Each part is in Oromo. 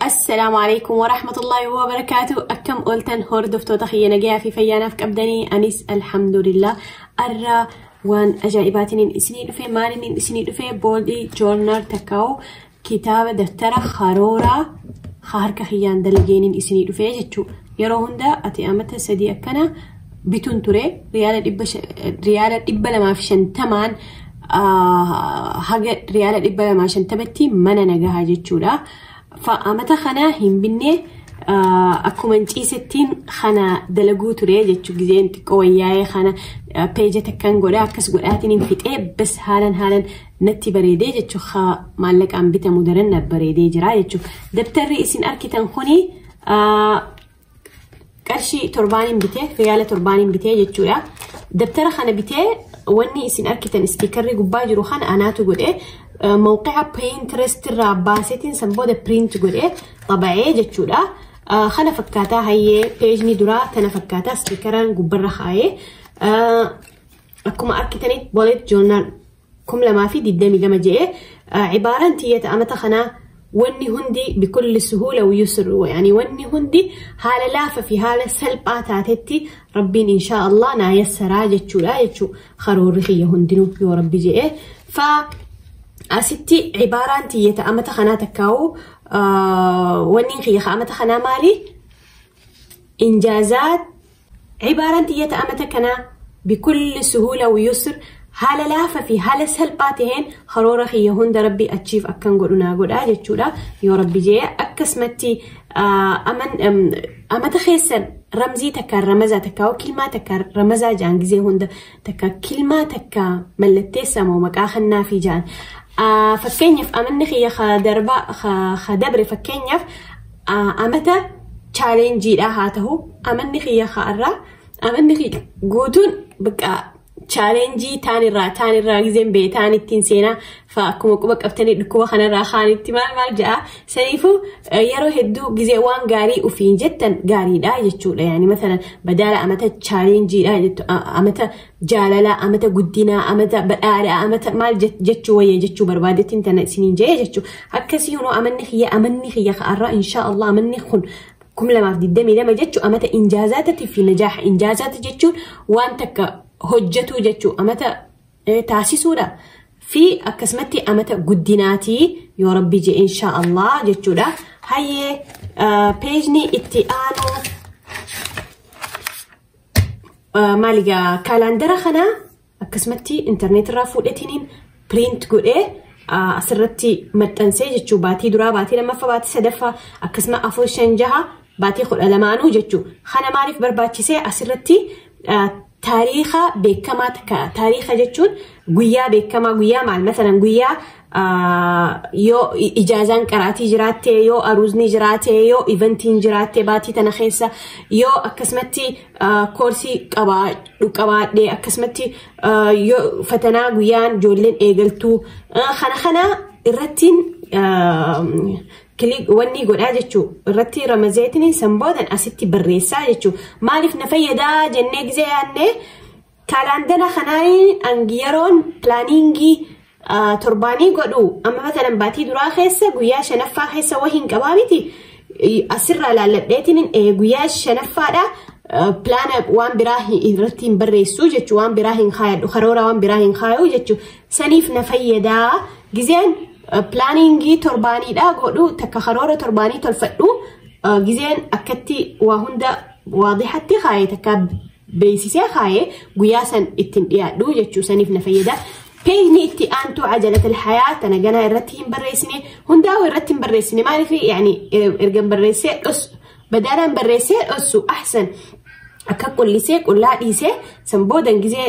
Assalaamu alaikum wa rahmatullahi wa barakaatu akkam ooltan hordoftoota kiyya nagayaa fi fayyaanaaf qabdanii anis alhamdulillah arra waan ajaa'ibaatiin isinii dhufe maaliin isinii dhufe boolii joornaal takkaa'u kitaaba daftara karooraa harka kiyyaan dalageenin isinii dhufe jechuudha yeroo hunda ati amata sadii akkana bitun ture riyaala dhibba sha- riyaala dhibba lamaa fi shantamaan ah, haga riyaala dhibba lamaa fi shantamatti mana nagahaa jechuudha. Fa amata kana hin binne ah, akkuma hin ciisettiin kana dalaguu ture jechuu gizeen xiqqoo wayyaa'ee kana ah, peeja takkan godha akkas godhaatiin hin fixee bas haalan haalan natti bareedee jechuu ha maallaqaan bitamu daran na bareedee jira jechuu dabtarri isin arkitan kuni ah, qarshii torbaaniin bitee riyaala torbaaniin bitee jechuudha. Dabtara kana bitee wanni isin arkitan ispiikarri gubbaa jiru kana anaatu godhe mawqi'a Pinterest irraa baasetiin san booda print godhe xaba'ee jechuudha. Kana fakkaataa hayyee peejni duraa tana fakkaataa ispiikaraan gubbarra kaayee akkuma arkitanitti bolet joornaal 2022 je'e cibaaraan tiyyata amata kanaa wanni hundi bikulli suhuula wuyusr yani wanni hundi haala laafa fi haala salphaa taatetti rabbiin inshaa allah naa yassaraa jechuudha jechuu karoorri kiyya hundinuu yoo rabbi je'e fa asitti cibaaraan tiyyata amata kanaa takkaa'u wanni kiyya amata kanaa maali Injaazaat Cibaaraan tiyya ta amata kanaa bikulli suhuula wyusr haala laafa fi haala salphaa taheen karoora kiyya hunda rabbi achiif akkan godhu naa godha jechuudha yoo rabbi jee akkasumatti amata keessa ramzii takka ramazaa takka kilmaa takka ramazaa jaan gizee hunda takka kilmaa takka mallatteessa moo maqaa kannaa fi jaan fakkeenyaaf amanni kiyya ka darba ka dabre fakkeenyaaf Amata chaalenjiidhaa haa tahu amanni kiyya ka'arraa amanni kiyya guutuun bakka chaalenjii taan irraa taan irraa gizeen bee taan ittiin seenaa fa akkuma quba qabtanii dhukkuba kanarraa kaan itti maal maal ja'a saniifuu yeroo hedduu gizee waan gaarii ufiin jettan gaariidha jechuudha yaani masalan badaala amata chaalenjiidha jettu amata jaalalaa amata guddinaa amata badhaadhaa amata maal je- jechuu wayya jechuu barbaadettiin tana isiniin jee jechuu akkasii hunoo amanni kiyya amanni kiyya ka'arraa inshaa Allah amanni kun kum lamaaf digdamii lama jechuu amata injaazaatati fi najaaha injaazaata jechuun waan takka hojjetuu jechuu amata eh, taasisuudha fi akkasumatti amata guddinaatii yoo rabbi jee inshaa Allah jechuudha hayyee eh, peejni itti aanuu maali gaa kaalaandara kana akkasumatti intarneet irraa fuudhetiniin piriint godhee asirratti maxxansee jechuu baatii duraa baatii lammaffaa baatii sadaffaa akkasuma afur shan jaha baatii kudha lamaanuu jechuu kana maaliif barbaachisee asirratti taariikha beekamaa takka taariikha jechuun guyyaa beekamaa guyyaa maal masalan guyyaa yoo ijaazaan qaraatii jiraattee yoo aruuzni jiraatee yoo ivantiin jiraattee baatii tana keessa yoo akkasumatti koorsii qabaadhu qabaadhee akkasumatti yoo fatanaa guyyaan ijoolleen eegaltuu kana kana irrattiin wanni godhaa jechuu irratti ramazeetiin san boodan asitti barreessaa jechuu maaliif na fayyadaa jennee gizee yaannee Kaalaandara kanaan hangi yeroon pilaaniingii torbaanii godhu amma matanan baatii duraa keessa guyyaa shanaffaa keessa wahiin qabaa miti asirraa laalladheetiin guyyaa shanaffaadha pilaana waan biraa irratti hin barreessu jechuun waan biraa hin kaayadhu karoora waan biraa hin kaayu jechuun saniif na fayyadaa gizeen pilaaniingii torbaaniidha godhu takka karoora torbaanii tolfadhu gizeen akkatti waa hunda waadixatti kaayee takka beeksisee kaa'ee guyyaa san ittiin dhiyaadhu jechuu saniif na fayyada. Peejni itti aantuu ajalatal hayaa tana ganaa irratti hin barreessine hundaa'u irratti hin barreessine maaliif yaani erga hin barreessee dhos badaalaan barreessee dhossu ahsan akka qullisee qullaa dhiisee san boodan gizee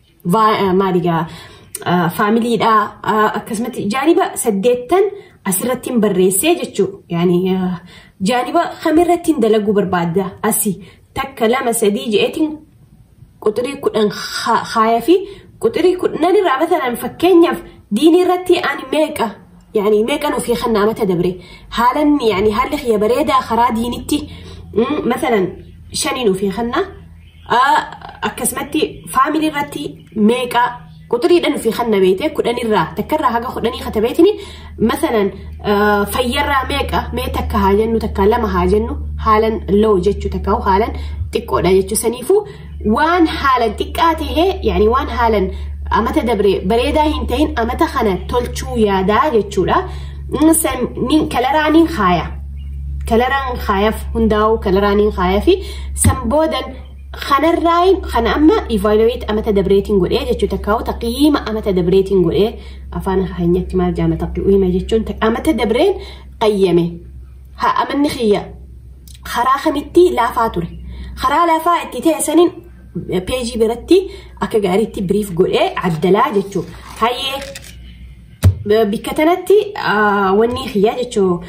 maaligaa faamiliidhaa akkasumatti jaaniba saddeettan asirratti hin barreessee jechuudha. Yaani jaaniba kamirratti hin dalaguu barbaadda asi takka lama sadii je'eetiin quxirii kudhan haaya fi quxirii kudhan irraa matalan fakkeenyaaf diinii irratti ani meeqa Yaani meeqan ofii kanna amata dabre haalan yaani haalli kiyya bareedaa karaa diinitti masalan shaniin ofii kanna akkasumatti faamilii irratti meeqa quxuriidhaan ofii kanna beekte kudhanirraa takkarraa haga kudhanii kata beekni masalan fayyarraa meeqa mee takka haa jennu takka lama haa jennu haalan low jechuu takka haalan xiqqoodha jechuu saniifuu waan haalan xiqqaa tahee yaani waan haalan amata dabre bareedaa hin tahin amata kana tolchuu yaadaa jechuudha. Kalaraa niin kaaya. Kalaraan kaayaf hundaa'u kalaraa niin kaaya fi san boodan kanarraayin kana amma evaluate amata dabreetiin godhee jechuu takkaa'u taqiyyiima amata dabreetiin godhee afaan keenyatti maal jaama taqiyyiima jechuun amata dabreen qayyame. Haa amanni kiyya karaa kamitti laafaa ture. Karaa laafaa itti ta'e saniin peejii biratti akka gaariitti biriif godhee addalaa jechuun hayyee bikka tanatti wanni kiyyaa jechuun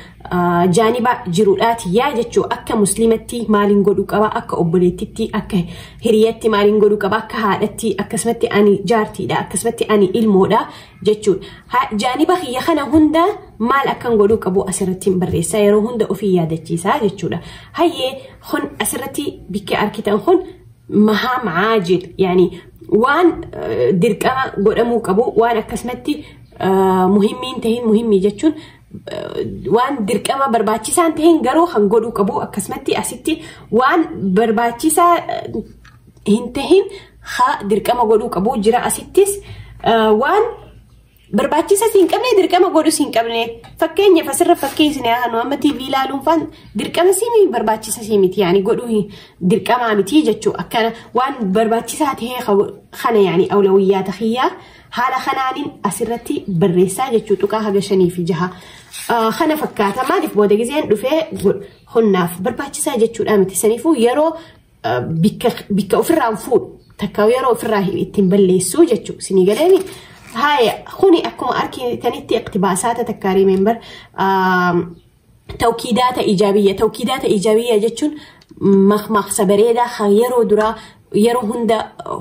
jaaniba jiruudhaa tiyyaa jechuun akka musliimatti maaliin godhuu qaba akka obboleettitti akka hiriyatti maaliin godhuu qaba akka haadhatti akkasumatti ani jaartiidha akkasumatti ani ilmoodha jechuudha. Ha- Jaaniba kiyya kana hunda maal akkan godhuu qabu asirratti hin barreessaa yeroo hunda ofii yaadachiisaa jechuudha. Hayyee kun asirratti bikki arkitan kun mahaam caajil yaani waan eh, dirqama godhamuu qabu waan akkasumatti eh, muhimmiin tahin muhimmii jechuun eh, waan dirqama barbaachisaan tahin garuu kan godhuu qabu akkasumatti asitti waan barbaachisaa eh, hin tahin haa dirqama godhuu qabu jira asittis waan barbaachisa siin qabne dirqama godhu siin qabne fakkeenyaaf asirra fakkeessine hanu amma TV ilaaluun faan dirqama siimi barbaachisa sii miti yaani godhuu dirqamaa miti jechuu akkana waan barbaachisaa ta'ee kana yaani awlawiyyaa tahiyyaa haala kanaanin asirratti barreessaa jechuu tuqaa haga shanii fi jaha kana fakkaata maaliif booda gizeen dhufee hunnaaf barbaachisaa jechuudha miti saniifuu yeroo bikka ofirraan fuudhu takka yeroo ofirraa ittiin balleessu jechuudha. Isinii galeeni haaya kuni akkuma argitanitti iqtibaasaata takka rimeembar tawkiidaata ijaabiyya tawkiidaata ijaabiyya jechuun maqmaqsa bareedaa kan yeroo duraa yeroo hunda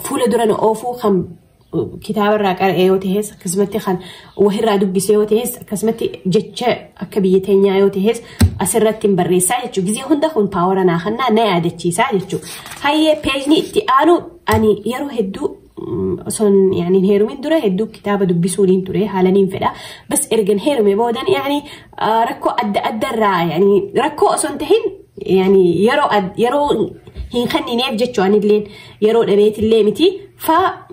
fuula dura nu oofuu kan kitaaba irraa qara'ee yoo ta'es akkasumatti kan wahirraa dubbisee yoo ta'es akkasumatti jecha akka biyya teenyaa yoo ta'es asirratti hin barreessaa jechuudha. Gizee hunda kun paawara naa kannaa na yaadachiisaa jechuudha. Hayyee peejni itti aanu ani yeroo hedduu osoon yaaniin heerumin dura hedduu kitaaba dubbisuun ture haalaniin fedha. Bas ergan heerume boodan yaani Rakkoo adda addarraa rakkoo osoo hin tahin yeroo hin kennineef jechuu anilleen yeroo dhabeetillee miti faa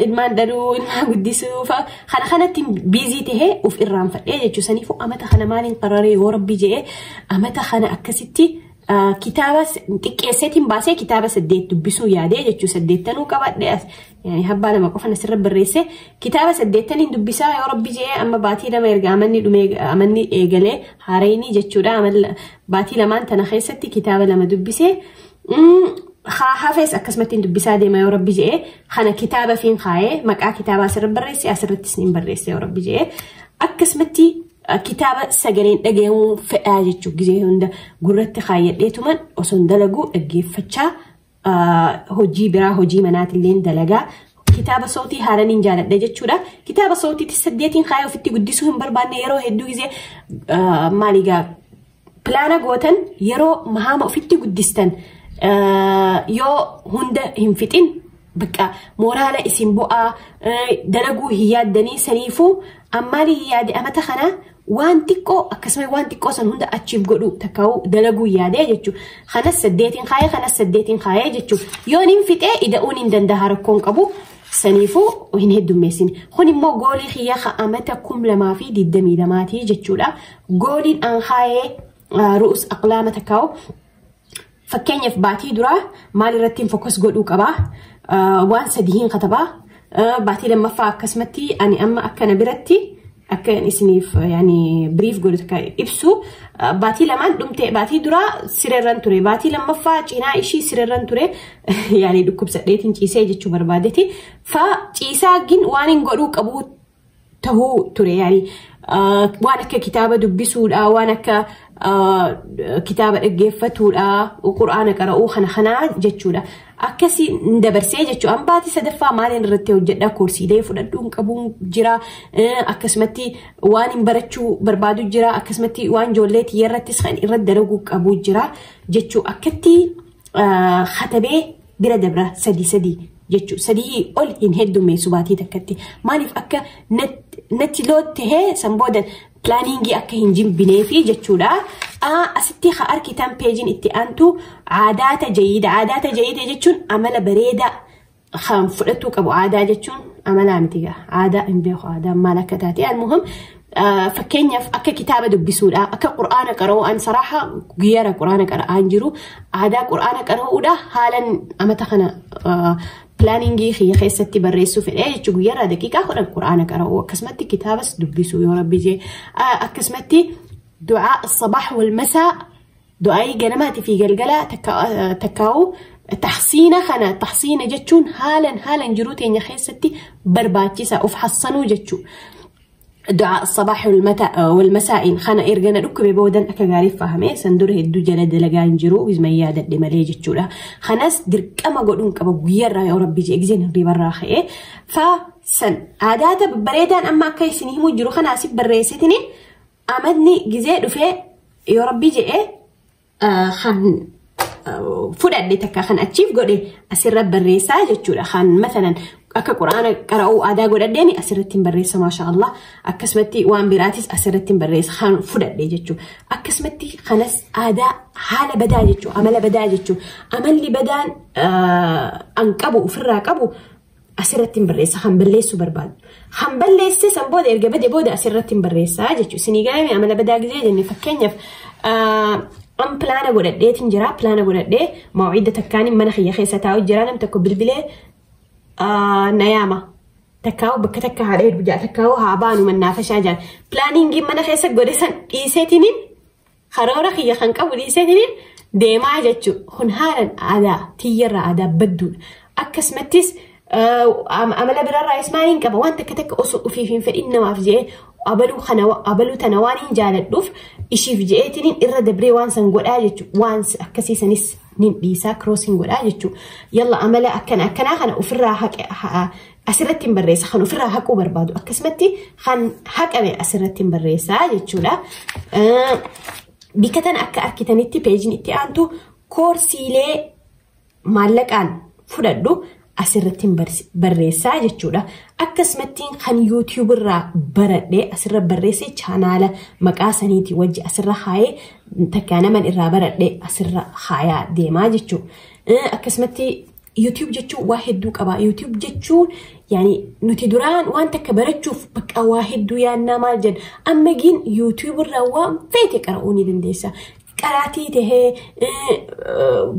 ilmaan dhaluu ilmaan guddisuu faa kana kanatti biizii tahee of irraanfadhee jechuu saniifuu amata kana maaliin qararee yoo rabbii jedhee amata kana akkasitti kitaaba xiqqeesseetiin baasee kitaaba saddeet dubbisuu yaadee jechuu saddeettanuu qabadhe yani habbaa lama qofan asirra barreesse kitaaba saddeettaniin dubbisaa yoo rabbi je'ee amma baatii lama erga amanni dhumee amanni eegalee haareenii jechuudha amalla baatii lamaan tana keessatti kitaaba lama dubbisee mm, haa hafees akkasumatti dubbisaa deema yoo rabbi je'ee kana kitaaba fiin kaa'ee maqaa kitaabaa asirra barreesse asirrattis niin barreesse yoo rabbi je'ee akkasumatti uh, kitaaba sagaleen dhaga'amuu fedhaa jechuun gizee hunda gurratti kaayyadheetuman osoo hin dalaguu dhaggeeffachaa hojii biraa hojii manaatillee dalagaa kitaaba sootii haaraniin jaaladha jechuudha. Kitaaba sootiitti saddeetiin kaayee ofitti guddisuu hin barbaanne yeroo hedduu gisee maaligaa pilaana gootan yeroo mahaama ofitti guddistan yoo hunda hin fixin bakka mooraala isin bu'aa dalaguu hin yaaddanii saniifuu Ammaali hin yaade amata kana waan xiqqoo akkasuma waan xiqqoo san hunda achiif godhu takkaa'u dalaguu yaadee jechuudha. Kanas saddeetiin kaayee kanas saddeetiin kaayee jechuudha. Yoon hin fixee ida'uun hin danda'a rakkoon qabu saniifuu hin heddummeessin. Kun immoo goolii kiyya ka amata kum lamaa fi digdamii lamaatii jechuudha. Gooliin an kaayee ru'us aqlaama takkaa'u Fakkeenyaaf baatii duraa maal irrattiin fokas godhuu qabaa waan sadihiin katabaa baatii lammaffaa akkasumatti ani amma akkana biratti akka isiniif yaani biriif godhu takka ibsu baatii lamaan dhumte baatii duraa sirerran ture baatii lammaffaa cinaa ishii sirerran ture yaani dhukkubsadheetiin ciisee jechuu barbaadeti fa ciisaa gin waan hin godhuu qabuu tahuu ture yaani waan akka kitaaba dubbisuudhaa waan akka kitaaba dhaggeeffatuudhaa qur'aana qara'uu kana kanaa jechuudha. Akkasii hin dabarsee jechuudha. An baatii sadaffaa maaliin irratti hojjedhaa koorsiilee fudhadhuu hin qabuun jira. Akkasumatti waan hin barachuu barbaadu jira. Akkasumatti waan ijoollee xiyya irrattis kan irratti dalaguu qabu jira jechuu akkatti katabee bira dabra sadii sadii jechuun sadii ol hin heddummeessu baatii takkatti maaliif akka natti loottee san booda pilaaniingii akka hin jimbineefi jechuudha. Asitti ha arkitan peejiin itti aantu aadaata jayiida. Aadaata jayiida jechuun amala bareedaa kan fudhatuu qabu aadaa jechuun amalaa miti gaa aadaa hin beeku aadaa maal akka taate almuhim Fakkeenyaaf akka kitaaba dubbisuudhaa, akka quraana qara'uudhaan saraaha guyyaara quraana qara'aan jiru aadaa quraana qara'uudhaa haalan amata kana pilaaningii kiyya keessatti barreessuu fedhee jechuun guyyaarraa daqiiqaa kudhan quraana qara'uu akkasumatti kitaabas dubbisuu yoo rabbi jee akkasumatti du'aa sabaax wal masaa du'aayii ganamaatii fi galgalaa takkaa'uu taxsiina kana taxsiina jechuun haalan haalan jiruu teenya keessatti barbaachisa of hassanuu jechuudha. du'aa sabaax walmasaa'iin kana erga na dhukkube boodan akka gaariif fahame san dura hedduu jala dalagaa hin jiru wisman yaadadhe malee jechuudha. Kanas dirqama godhuun qaba guyyaarraa yoo rabbii jee gizeen hirribarraa ka'ee fa san aadaata bareedaan amma akka isin himuu jiru kanaasif barreessitini amadni gizee dhufee yoo rabbii je'ee kan fudhadhe takka kan achiif godhe asirra barreessaa jechuudha. Kan masalan akka quraana qara'uu aadaa godhadheen asirratti hin barreessa maasha Allah. Akkasumatti waan biraatis asirratti hin barreessa kan fudhadhe jechuudha. Akkasumatti kanas aadaa haala badaa jechuudha amala badaa jechuudha. Amalli badaan an qabu ofirraa qabu asirratti hin barreessa kan balleessuu barbaadu. Kan balleessee san booda erga bade booda asirratti hin barreessaa jechuudha. Isinii gaa'ime amala badaa gizee jenne fakkeenyaaf an pilaana godhadheetiin jira pilaana godhadhee mawcidda takkaan mana kiyya keessa taa'u jira nam tokko bilbilee na yaama. Takkaa'u bakka takka haadha hedduu jira takkaa'u haa baanu mannaafashaa jira. Pilaaniingiin mana keessa godhe san dhiiseetiin Karoora kiyya kan qabu dhiiseetiin deemaa jechuun kun haalan aadaa tiyyarraa aadaa badduudha. Akkasumattis amala biraarraayis maaliin qaba waan takka takka osoo ofiif hin fedhin namaaf jedhee abaluu tana waan hin jaaladhuuf ishiif jedheetiin irra dabree waan san godhaa jechuudha. Waan akkasii sanis nin dhiisaa kiroosiin godhaa jechuudha. Yalla amala akkana akkanaa kana ofirraa asirratti hin barreessa kan ofirraa haquu barbaadu akkasumatti kan haqame asirratti hin barreessa jechuudha. Bikka tana akka argitanitti peejiin itti aantu koorsiilee maallaqaan fudhadhu asirratti hin barreessaa jechuudha. Akkasumatti kan YouTube irraa baradhee asirra barreessee chaanaala maqaa saniitii wajji asirra haayee takkaa naman irraa baradhee asirra haayaa deemaa jechuudha. Akkasumatti YouTube jechuun waa hedduu qaba. YouTube jechuun yaani nuti duraan waan takka barachuuf bakka waa hedduu yaannaa maal jedha. Amma giin YouTube irraa waan feete qara'uu ni dandeessa. Qaraatii tahee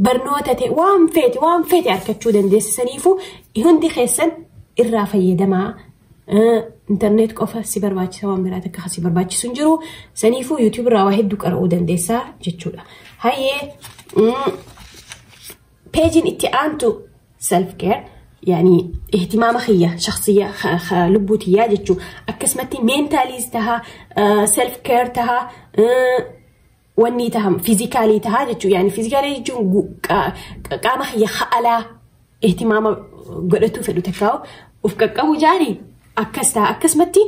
barnoota ta'e waan feete waan feete argachuu dandeessa. Saniifuu hundi keessan irraa fayyadamaa. Intarneet qofa si barbaachisa waan biraa takka si barbaachisu hin jiru. Saniifuu YouTube irraa waa hedduu qara'uu dandeessa jechuudha. Hayyee Peejiin itti aantu self care yaani ihtimaama kiyya shakhsiyya kha- kha- lubbuu tiyyaa jechuu akkasumatti meentaaliis taha self care taha eh, wannii taha fiizikaalii taha jechuu yaani fiizikaalii jechuun gu- qa- qa- qaama kiyya ha'alaa ihtimaama godhatuu fedhu takkaa'u of qaqqabu jaanii Akkas ta'a akkasumatti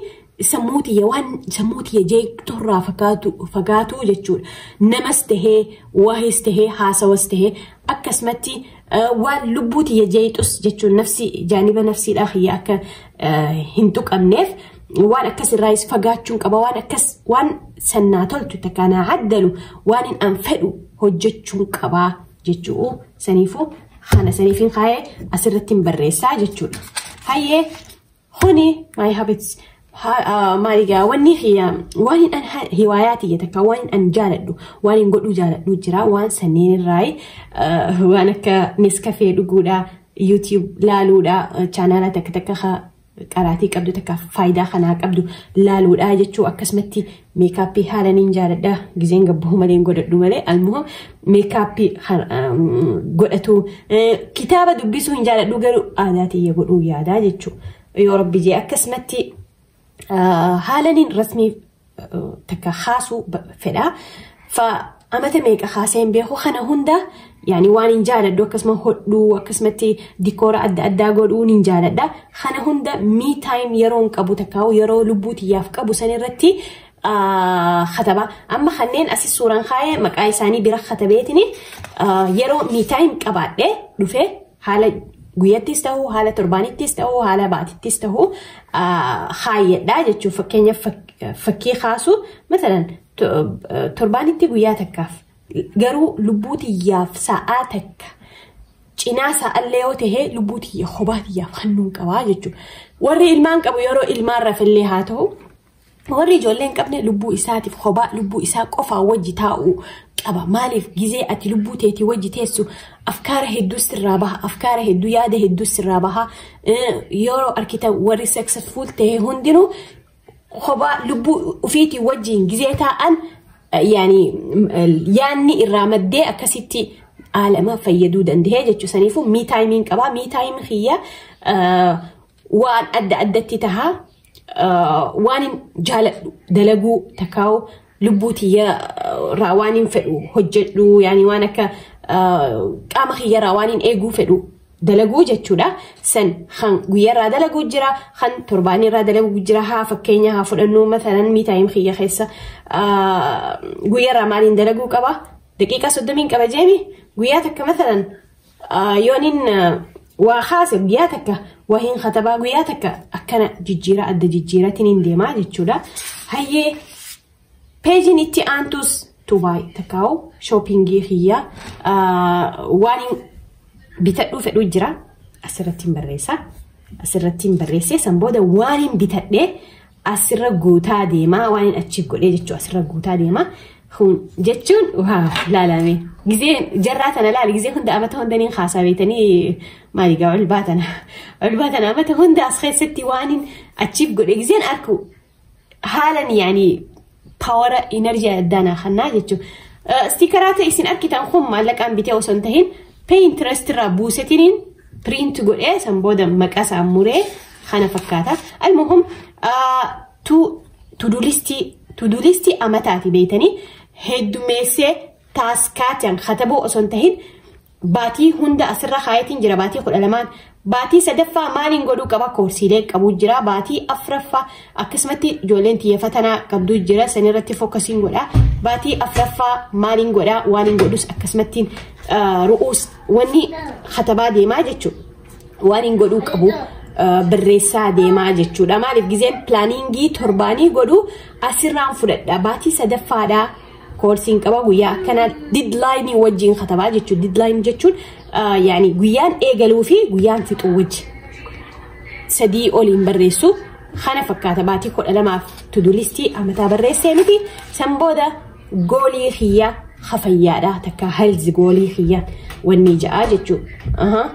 sammuu tiyya waan sammuu tiyya jeeqxurraa fagaatu fagaatuu jechuudha. Namas tahee waahis tahee haasawas tahee akkasumatti eh, waan lubbuu tiyya jeeqxus jechuun nafsi jaaniba nafsiidhaa kiyya akka eh, hin tuqamneef waan akkas irraayis fagaachuun qaba waan akkas waan sannaa toltu takka naa addalu waan hin an fedhu hojjechuun qabaa jechu'u saniifuu kana saniifin kaa'ee asirratti hin barreessaa jechuudha. Hayyee kuni my habits maaligaa wanni kiyya waan hin an hiwaayaa tiyya takka waan hin an jaaladhu waan hin godhuu jaaladhu jira waan sanneen irraayi waan akka neskafee dhuguudha YouTube laaluudha chaanaala takka takka qaraatii qabdu takka faayidaa kanaa qabdu laaluudhaa jechuu akkasumatti meekaappii haala niin jaaladha gizeen gabbuu malee hin godhadhu malee almuhim meekaappii godhatu kitaaba dubbisuu hin jaaladhu garuu aadaa tiyya godhuu yaadaa jechuu yoo rabbi jee akkasumatti haala niin rasmii takka kaasuu fedha. Fa amata meeqa kaasee hin beeku kana hunda yaani waan hin jaaladhu akkasuma hodhuu akkasumatti dikoora adda addaa godhuu hin jaaladha. Kana hunda me time yeroo hin qabu takka yeroo lubbuu tiyyaaf qabu san irratti kataba. Amma kanneen asis suuraan kaa'ee maqaa isaanii bira katabeetini yeroo me time qabaadhee dhufee Haala guyyattis ta'uu, haala torbaanittis ta'uu, haala baatittis ta'uu kaayyadhaa jechuun fakkeenyaaf fakkii kaasuu masalan torbaanitti guyyaa takkaaf garuu lubbuu tiyyaaf sa'aa takka cinaa sa'allee yoo ta'e lubbuu tiyya kophaa tiyyaaf hannuun qabaa jechuudha. Warri ilmaan qabu yeroo ilmaan rafillee haa ta'u Warri ijoollee hin qabne lubbuu isaatiif kophaa lubbuu isaa qofaa wajji taa'u qaba. Maaliif gizee ati lubbuu teetii wajji teessu afkaara hedduu sirraa baha. Afkaara hedduu yaada hedduu sirraa baha. Yeroo argitan warri successful ta'e hundinuu kophaa lubbuu ofiitii wajjin gizee taa'an yaani yaanni irraa maddee akkasitti aalama fayyaduu danda'ee jechuu saniifuu mii taayimiin qabaa mii taayimiin kiyya waan adda addatti tahaa waan hin jaaladhu dalaguu takkaa'u lubbuu tiyya irraa waan hin fedhu hojjedhu yaani waan akka qaama kiyya irraa waan hin eeguu fedhu dalaguu jechuudha. San kan guyyaa irraa dalaguu jira kan torbaanii irraa dalaguu jira haa fakkeenya haa fudhannu masalan miitaayim kiyya keessa guyyaa irraa maaliin dalaguu qaba daqiiqaa soddomiin qaba jeemi guyyaa takka masalan Yoonin waa kaase guyyaa takka waa hin katabaa guyyaa takka akkana jijjiiraa adda jijjiiratiin hin deemaa jechuudha. Hayyee peejiin itti aantuus tubaay takkaa'u shoopingii kiyyaa waan bitadhuu fedhuu jira asirratti hin barreessa. Asirratti hin barreessee san booda waan hin bitadhee asirra guutaa deemaa waan hin achiif godhee jechuun asirra guutaa deemaa jechuun waaw laalame gizee jarraa tana laale gizee hunda amata hunda niin haasaa beetanii maali gaa ol baatana ol baatana amata hunda as keessatti waan hin achiif godhe gizeen arku haalan yaanii Pawara inarjii addaa naa kannaa jechuun. Stiikaraa ta'e isin argitan kun maallaqaan bitee osoo hin tahin Pinterest irraa buusetiniin print godhee san booda maqaa isaa muree kana fakkaata. Almuhum tudulistii amataati beeytanii heddumeessee taaskaatiyan katabuu osoo hin tahin Baatii hunda asirra kaayetiin jira baatii kudha lamaan. Baatii sadaffaa maaliin godhuu qaba koorsiilee qabuu jira. Baatii afraffaa akkasumatti ijoolleen tiyya fatanaa qabduu jira sanirratti fokkasiin godha. Baatii afraffaa maaliin godha waan hin godhus akkasumattiin ru'uus wanni katabaa deemaa jechuudha. Waan hin godhuu qabu barreessaa deemaa jechuudha. Maaliif gizeen pilaaniingii torbaanii godhuu asirraan fudhadha. Baatii sadaffaadhaa. koorsiin qaba guyyaa akkanaa didlaayinii wajjin katabaa jechuudha. Didlaayinii jechuun yaani guyyaan eegaluu fi guyyaan fixuu wajji sadii oliin barreessu kana fakkaata baatii kudha lamaaf tudulistii amataa barreessee miti san booda goolii kiyyaa hafayyaadha takka halzi goolii kiyyaa wanni ja'a jechuudha.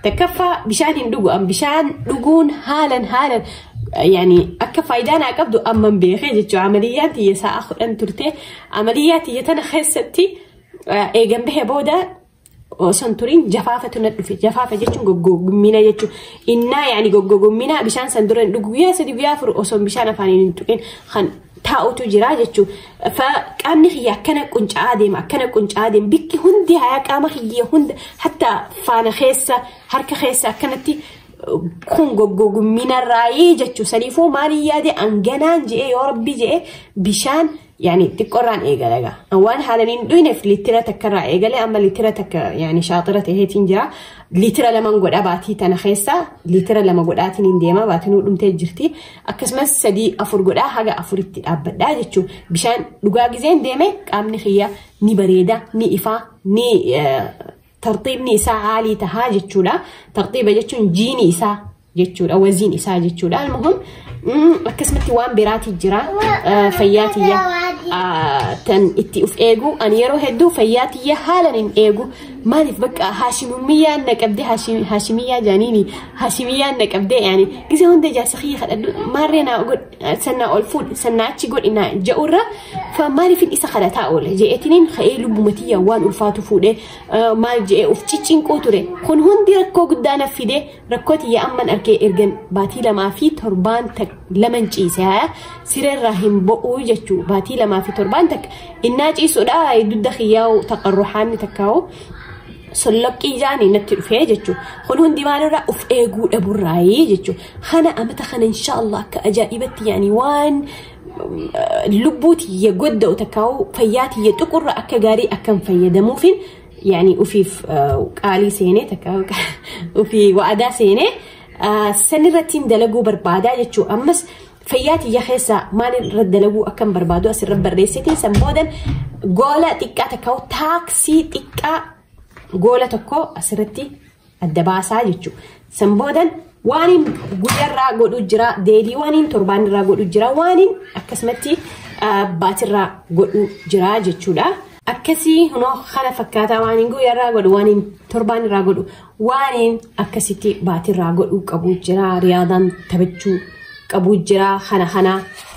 Takkaffaa bishaan hin dhugu. An bishaan dhuguun haalan haalan yani akka faayidaa naa qabdu amman beekee jechuudha. Amaliyyaan tiyya sa'a kudhan turte. Amaliyyaa tiyya tana keessatti eegan bahee booda osoo hin turin jafaafatu na dhufe. Jafaafa jechuun goggogommina jechuun innaa yani goggogommina bishaan san dura hin dhugu. Guyyaa sadi guyyaa afur osoo bishaan afaaniin hin tuqin kan taa'utu jira jechuun qaamni kiyya akkana qunca'aa deema akkana qunca'aa deema bikki hundi hayaa qaama kiyya hunda hatta faana keessa harka keessa akkanatti kun goggogumminarraayii jechuu saniifuu maaliin yaade anganaan je'ee yoo rabbi je'e bishaan yaani xiqqorraan eegalaga waan haalan hin dhuyneef liitira takkarraa eegalee amma liitira takka yaani shaaxira ta'eetiin jira liitira laman godha baatii tana keessa liitira lama godhaatiin hin deema baatiin dhumtee jirti Akkasumas sadii afur godhaa haga afuritti dhaabbadhaa jechuun bishaan dhugaa gizeen deeme qaamni kiyya ni bareeda ni ifaa ni tartiibni isaa haalii tahaa jechuudha. Tartiiba jechuun jiini isaa jechuudha waziin isaa jechuudha. Almuhim akkasumatti waan biraatii jira fayyaa tiyya tan itti uf eegu ani yeroo hedduu fayyaa tiyya haalan hin eegu maaliif bakka haashimummiyyaan na qabdee haashimiyyaa jaaniini Hashimiyyaan na qabdee yaani gisa hunda ijaarsa kiyya kadhadhu maarree naa godh sannaa ol fuudh sannaa achi godhi naa ja'urra fa maaliifin isa kadhataa oole je'etiniin ka'ee lubbuma tiyya waan ulfaatu fuudhee eh, maal je'ee of ciccinquu ture kun hundi rakkoo guddaa naf fidee rakkoo tiyya amman arkee ergan baatii lamaa fi torbaan tak laman ciise haya sirerraa hin bo'uu jechuu baatii lamaa fi torbaan tak innaa ciisudha dudda kiyyaa taqarruhaanni takkaa'u Solloqqii jaanii natti dhufee jechuun kun hundi maalirraa of eeguu dhaburraayii jechuun kana amata kana inshaallah akka ajaa'ibatti yaanii waan lubbuu tiyya godda'u takkaa'u fayyaa tiyya tuqurra akka gaarii akkan fayyadamuufin yaanii ufiif qaalii seenee takkaa'u ufii waadaa seenee sanirrattiin dalaguu barbaadaa jechuun ammas Fayyaa tiyya keessaa maaliin irra dalaguu akkan barbaadu asirra barreessite san boodan goola xiqqaa takka taaksii xiqqaa goola tokko asirratti adda baasaa jechuudha. San boodan waaniin guyyarraa godhu jira deedii waaniin torbaanirraa godhu jira waaniin akkasumatti baatirraa godhu jira jechuudha. Akkasii hunoo kana fakkaataa waaniin guyyarraa godhu waaniin torbaanirraa godhu Waaneen akkasitti baatirraa godhuu qabu jira riyaadaan taphachuu qabu jira kana kana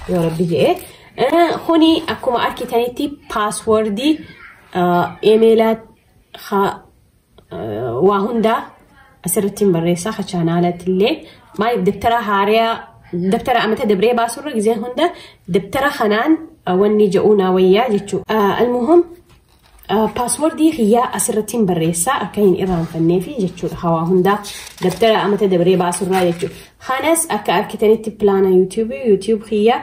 yoo rabbi jedhe. Eh, Kuni akkuma argitanitti paaswordii emeela waa hundaa asirratti hin barreessaa ha chaanaalatti illee maaliif dabtara haaraa dabtara amata dabree baasurra gizee hunda dabtara kanaan eh, wanni jedhuu naa wayyaa jechuudha. Almuhum Paaswordii kiyyaa asirrattiin barreessaa akka hin irraanfannee fi jechuudha hawaa hundaa dabtara amata dabaree baasurraa jechuudha. Kanas akka argitanitti pilaana yuutuubii yuutuub kiyyaa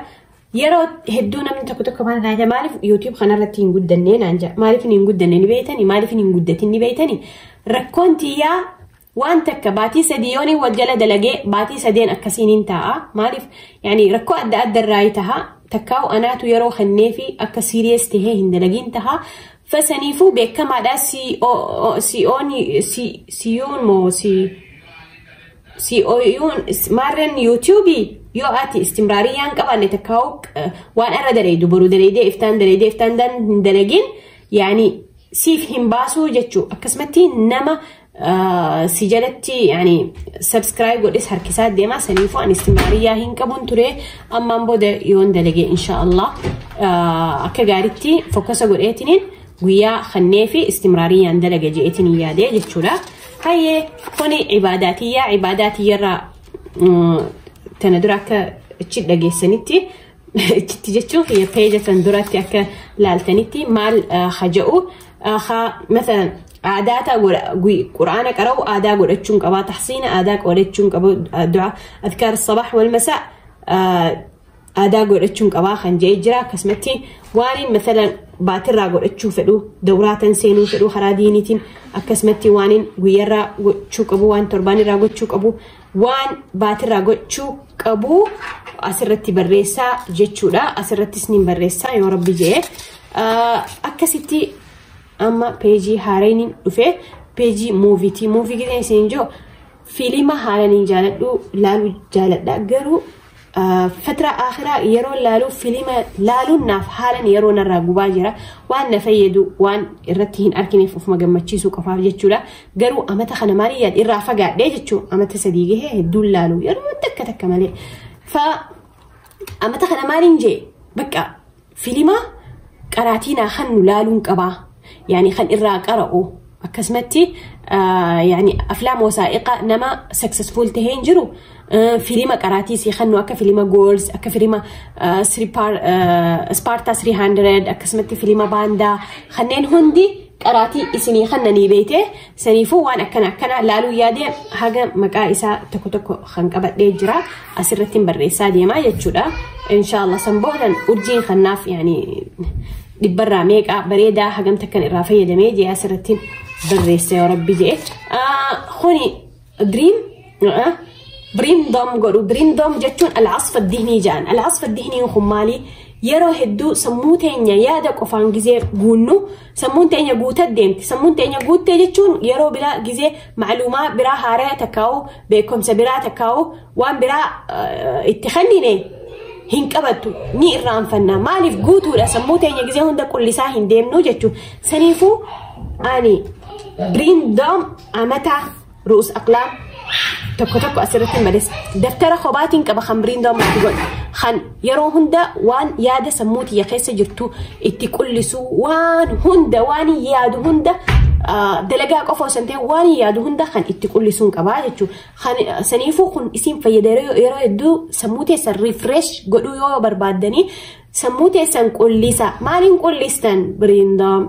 yeroo hedduu namni tokko tokko maal taate maaliif yuutuub kanarratti hin guddannee naan jedha maaliif hin guddanne ni beeytani maaliif hin guddatin ni beeytani rakkoon tiyyaa Waan takka baatii sadii yooniin wal jala dalagee baatii sadeen akkasiinin taa'a. Maaliif yaani rakkoo adda adda irraa taha takkaa'u anaatu yeroo kenneefi akka siiriyees tahee hin dalagiin taha. Fasaniifuu beekamaadhaa si'oon si'oon moo si'oon maarreen yuutuubii yoo ati istimraarii yaan qabaanne takkaa'u waan irra daleeydu boru daleeydee iftaan daleeydee iftaan hin dalagiin yaani siif hin baasuu jechuu akkasumatti nama si jalatti yani subscribe godhes harkisaa deemaa saniifuu ani istimraariyyaa hin qabun ture ammaan booda yoon dalage insha allah akka gaaritti fokkasa godheetiniin guyyaa kannee fi istimraariyyaan dalaga je'eetiniin yaadee jechuudha hayyee kuni ibaadaatiyyaa ibaadaatiyyarraa tana dura akka achi dhageessanitti Itti jechuun kiyya peeja san duratti akka laaltanitti maal haja'u haa masalan aadaa ta'a godha quraana qara'u aadaa godhachuun qabaa tahsiina aadaa godhachuun qabu du'a adkaar sabax wal masaa aadaa godhachuun qabaa kan ja'e jira akkasumatti waan masalan baatirraa godhachuu fedhu dawraatan seenuu fedhu karaa diiniitiin akkasumatti waan guyyarraa gochuu qabu waan torbaanirraa gochuu qabu Waan baatirraa gochuu qabu asirratti barreessaa jechuudha. Asirrattis ni barreessaa yoo rabbi jee. Akkasitti amma peejii haarayni dhufe peejii muuviiti. Muuvii gideen isin jiru fiilima haala ni jaaladhu laaluu jaaladha garuu Fatra akhiraa yeroo laaluu filima laaluun naaf haalan yeroo narraa gubaa jira. Waan na fayyadu waan irratti hin argineef ofuma gammachiisuu qofaaf jechuudha. Garuu amata kana maal yaad irraa fagaadhee jechuu amata sadii gahee hedduun laalu yeroo takka takka malee. Fa amata kana maaliin jee bakka Filima qaraatii naa kannu laaluun qabaa. Yani kan irraa qara'u. Akkasumatti yani aflaam wasaa'iqa nama successful tahee hin jiru. Filima qaraatii sii kannu akka filima goals, akka filima Sparta 300, akkasumatti filima baandaa kanneen hundi qaraatii isinii kannanii beeyte saniifuu waan akkana akkana laaluu yaadee haga maqaa isaa tokko tokko kan qabadhee jira asirratti hin barreessaa deemaa jechuudha inshaallah san boodan urjiin kannaaf yaani dhibbarraa meeqaa bareedaa hagamta kan irraa fayyadamee jee asirratti barreessa yoo rabbi jee kuni Green biriin doom godhu biriin doom jechuun al'asfa dihnii jedhan al'asfa dihnii kun maali yeroo hedduu sammuu teenya yaada qofaan gizee guunnu sammuun teenya guutee deemti sammuun teenya guuttee jechuun yeroo biraa gizee maalumaa biraa haaraya takkaa'u beekumsa biraa takkaa'u waan biraa itti kennine hin qabattu ni irraanfanna maaliif guutuudha sammuu teenya gizee hunda qullisaa hin deemnu jechuun saniifuu ani biriin doom Amataa ru'us aqlaam tokko tokko asirratti malees daftara kobaatiin qaba kan biriin doomu itti godhu kan yeroo hunda waan yaada sammuu tiyya keessa jirtu itti qullisu waan hunda waan yaadu hunda ah, dalagaa qofa osoo hin ta'in waan yaadu hunda kan itti qullisuun qabaa jechuudha. Kan ah, saniifuu kun isin fayyada yeroo yeroo hedduu sammuu teessan refresh godhuu yoo barbaaddanii sammuu teessan qullisa maaliin qullistan biriin doomu.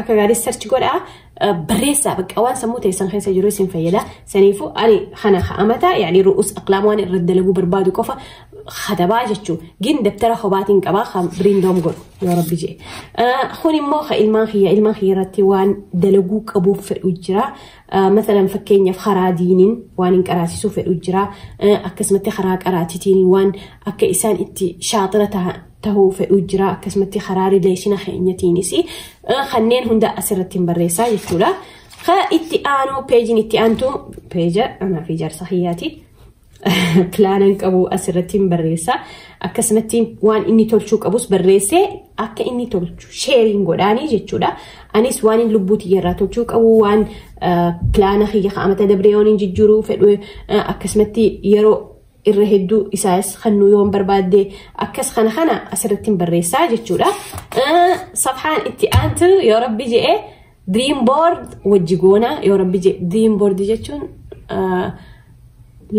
Akka gaarii search godhaa barreessaa bakka waan sammuu teessan keessa jiru isin fayyada. Saniifuu ani kana ha'amata yaani ru'us aqlaam waan irra dalaguu barbaadu qofa katabaa jechuun gin dabtara hobaatiin qabaa kan biriin doom godhu yoo rabbi jee. Kun immoo ka ilmaan kiyya ilmaan kiyya irratti waan dalaguu qabuuf fedhu jira. Masalan fakkeenyaaf karaa diiniin waan hin qaraasisuu fedhu jira. Akkasumatti karaa qaraatitiin waan akka isaan itti shaaxira tahuu fedhuu jira akkasumatti karaa rileeshina keenyatiinis kanneen hunda asirratti hin barreessaa jechuudha. Ka itti aanu peejiin itti aantu peeja anaa fi jaarsa kiyyaati. Pilaanan qabu asirratti hin barreessaa akkasumatti waan inni tolchuu qabus barreessee akka inni tolchu sheeriin godhaanii jechuudha. Anis waan inni lubbuu tiyyarraa tolchuu qabu waan pilaana kiyya ka'amata dabreeyoon hin jijjiiruu fedhu akkasumatti yeroo irra hedduu isaas kannuu yoon barbaadde akkas kana kana asirratti barreessaa jechuudha. Safhaan itti aantu yoo rabbi je'e dream board wajji goona yoo rabbi je'e dream board jechuun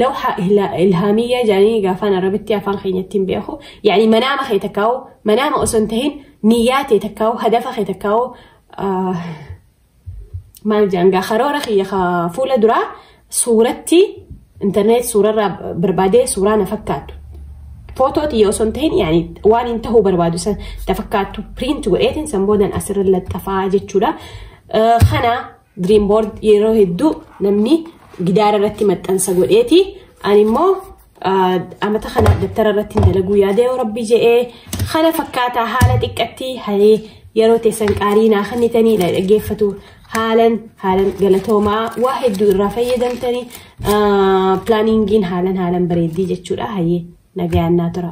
lawha ilhaamiyyaa jedhanii gaafaan arabitti afaan keenyatti hin beeku. Yaani manaama kee takkaa'u manaama osoo hin tahin niyyaa tee takkaa'u hadafa kee takkaa'u maal jedhan gaa karoora kiyya ka fuula duraa suuratti internet suurarraa barbaadee suuraa na fakkaattu footoo tiyya osoo hin tahin yaani waan hin tahuu barbaadu san ta fakkaattu print godheetiin san boodan asirra laxxafaa jechuudha. Eh, Kana dream board yeroo hedduu namni gidaara irratti maxxansa godheeti ani immoo amata kana dabtara irratti dalaguu yaada yoo rabbii je'ee kana fakkaataa haala xiqqatti halee yeroo teessan qaarii naa kennitanii na dhaggeeffatu haalan haalan galatoomaa waa hedduu irraa fayyadamtanii pilaaniingiin haalan haalan bareeddii jechuudha hayyee nagayaan naa tura.